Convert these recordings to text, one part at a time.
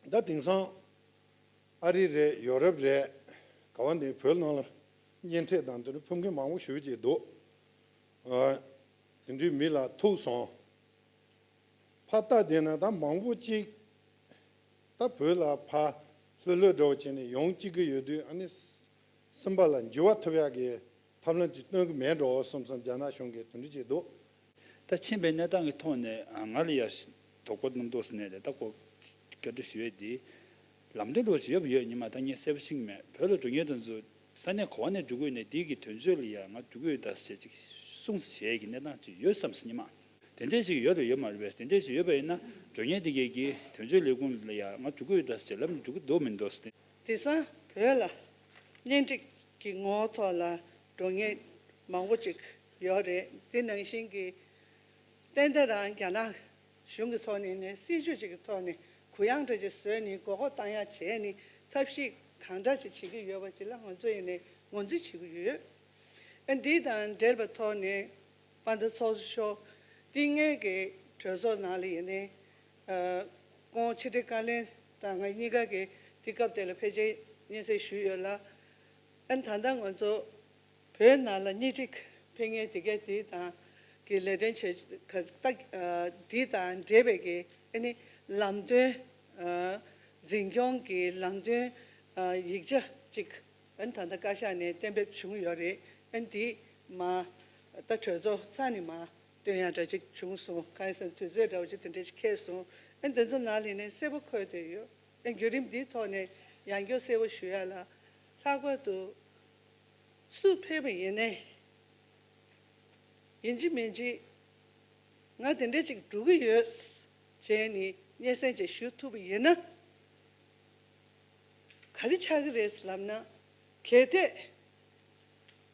ད་དེང་སང། ཨ་རི་རེད་ཡོ་རབ་རེད། ག་བ་འདི་བོད་ནང་ལ། གཉེན་འཕྲད་དང་དེ་འདྲ་ཕུགས་འགན་མང་བོ་ཞུ་བྱས་འདུག། དེ་འདྲའི་མི་ལ་ཐུག་སོང། ཕ་རྟ་དེ་ན་ད་མང་བོ་གཅིག། ད་བོད་ལ་ཕ་ལྷོད་ལྷོད་འདྲ་བོ་བྱས་ནས་ཡོང་གཅིག་གི་ཡོད་དུས་ཨ་ནི་སེམས་པ་ལ་འཇུ་བ་ཐུབ་ཡག་གི། ཐབས་ལམ་ཅིག་སྟོན་གྱི་མེད་འགྲོ་གསུམ་སམ་རྒྱ་ནག་གཞུང་གིས་དོན་འགྲུལ་བྱས་འདུག། ད་ཕྱིན་པའི་གནས་སྟངས་ཀྱི་ཐོག་ནས་ང་ལ་ཡར་དོ་ཀོ་རྣམ་རྟོག་ཟེར་ནས་ལས་ད་ཀོ་སྐྱར་སྒྲོག་ཞུ་ཡས་དེའི་ལམ་སྟོན་འགྲོ་བ་ཅིག་ཡོད་པ་ཡོད་ཉི་མ་ད་ངས་གསལ་པོ་ཤིག་མེད་བོད་ལ་འགྲོ་ཉེ་དུ་འཛུལ་ས་ནས་གོ་བ་ནས་འབྲུ་གུས་ནས་དེའི་གི་དོན་བརྗོད་ལ་ཡར་ང་འབྲུ་གུས་བདར་ས་བྱེད་ཅིག་གསུངས་ས་བྱས་ཀྱི་གནས་སྟངས་ཅིག་ཡོད་བསམ་སོང་ཉི་མ། དེ་འདྲས་ཤིག་ཡོད་རེད་ཡོད་མ་རེད་བས་དེ་འདྲས་ཤིག་ཡོད་པ་ཡིན་ན་འགྲོ་ཉེ་དེ་གའི་གི་དོན་བརྗོད་ལས་ཁུངས་ལ་ཡར་ང་འབྲུ་གུས་བདར་ས་བྱེད་ལབ་ནས་འགྲོ་གི་འདུག་མི་འདུག་ཟེར་ཏེ། དེང་སང་བོད་ལ་གཉེན་སྒྲིག་གི་ངོ་ཐོག་ལ་འགྲོ་ངེས་མང་པོ་ཅིག་ཡོད་རེད་དེ་ནང་བཞིན་གྱི། ཏན་ཏན་རང་རྒྱ་ནག་གཞུང་གི་ཐོག་ནས་ནས་སྲིད་བྱུས་ཅིག་གི་ཐོག་ནས་གུ་ཡངས་འདྲ་ཅིག་བཟོས་ནས་མགོ་སྐོར་བཏང་ཡ་བྱས་ནས་ཐབས་ཤེས་གང་འདྲ་ཅིག་བྱེད་ཀྱི་ཡོད་པ་ཅིག་ལ་ང་ཚོ་ཡེ་ནས་ངོ་འཛིན་བྱེད་ཀྱི་ཡོད། ཨ་འདི་དང་འབྲེལ་པའི་ཐོག་ནས་པ་མདོ་ཚོགས་ཤོག་སྟེ་ངེད་ཀྱི་གྲོས་ཚོགས་ནང་ལ་ཡེ་ནས། ཁོང་ཕྱི་དྲིལ་བཀའ་བློན་དང་ང་གཉིས་ཀ་གིས་དུས་སྐབས་དེ་ལ་ཕལ་ཆེར་སྙན་སེང་ཞུས་ཡོད་ལ། ཨན་ད་ལྟ་ང་ཚོ་བོད་ནང་ལ་གཉིས་སྒྲིག་འཕེལ་ངེས་དེ་གའི་དེ་དང་གི་ལས་དོན་བྱེད་ག་ཏག་དེ་དང་འབྲེལ་བའི་གི་ཨ་ནི་ལམ་སྟོན་འཛིན་སྐྱོང་གི་ལམ་སྟོན་ཡིག་ཆ་གཅིག་ཨན་ད་ལྟ་བཀའ་ཤག་ནས་གཏན་འབེབས་བྱུང་ཡོད་རེད་ཨན་དེས་མ་ད་གྲོས་ཚོགས་ཚང་ནས་མ། དོན་ཡང་འདྲ་ཅིག་བྱུང་སོང་གང་ཡིན་ཟེར་ན་དུས་ཚོད་འདྲ་བོ་ཅིག་དེ་འདྲ་ཞིག་ཁེལ་སོང་ཨེ་འདི་ཚོ་ནང་ལྷིང་ནས་གསལ་པོ་འཁོད་དེ་ཡོད་ཨེ་བརྒྱུད་རིམ་འདིའི་ཐོག་ནས་ཡང་སྐྱོ་གསལ་བོ་ཞུ་ཡ་ལ། ལྷག་པར་དུ། སུ་ཕེབས་པ་ཡིན་ནའི་ཡིན་ཅི་མིན་ཅི། ང་དེ་འདྲ་ཅིག་འགྲོ་གི་ཡོད། ཅེས་ནི་སྙན་སེང་ཅིག་ཞུ་ཐུབ་པ་ཡིན་ན། ག་རེ་ཆགས་ཀྱི་རེད་ལབ་ན། གལ་ཏེ།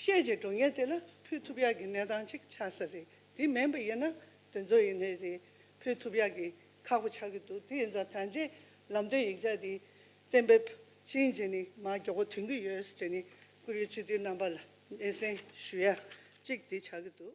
ཤེས་བྱའི་སྒྲུང་ངན་དེ་ལ་ཕུལ་ཐུབ་ཡག་གི་གནས་སྟངས་གཅིག་ཆགས་ས་རེད་དེ་མིན་པ་ཡིན་ན་དེ་ཚོ་ཡིན་ནི་རེད་ཕུལ་ཐུབ་ཡག་གི་ཁག་པོ་ཆགས་ཀྱི་འདུག་དེ་ཡིན་ཙང་ད་རྗེས་ལམ་སྟོན་ཡིག་ཆ་དེ་གཏན་འབེབས་ཕྱིན་རྗེས་ནི་མར་མགྱོགས་པོ་དོན་གྱི་ཡོད་ཅེས་ནི་ཀུ་རེའི་སྤྱི་འཐུས་རྣམ་པ་ལ་སྙན་སེང་ཞུ་ཡ་གཅིག་དེ་ཆགས་ཀྱི་འདུག།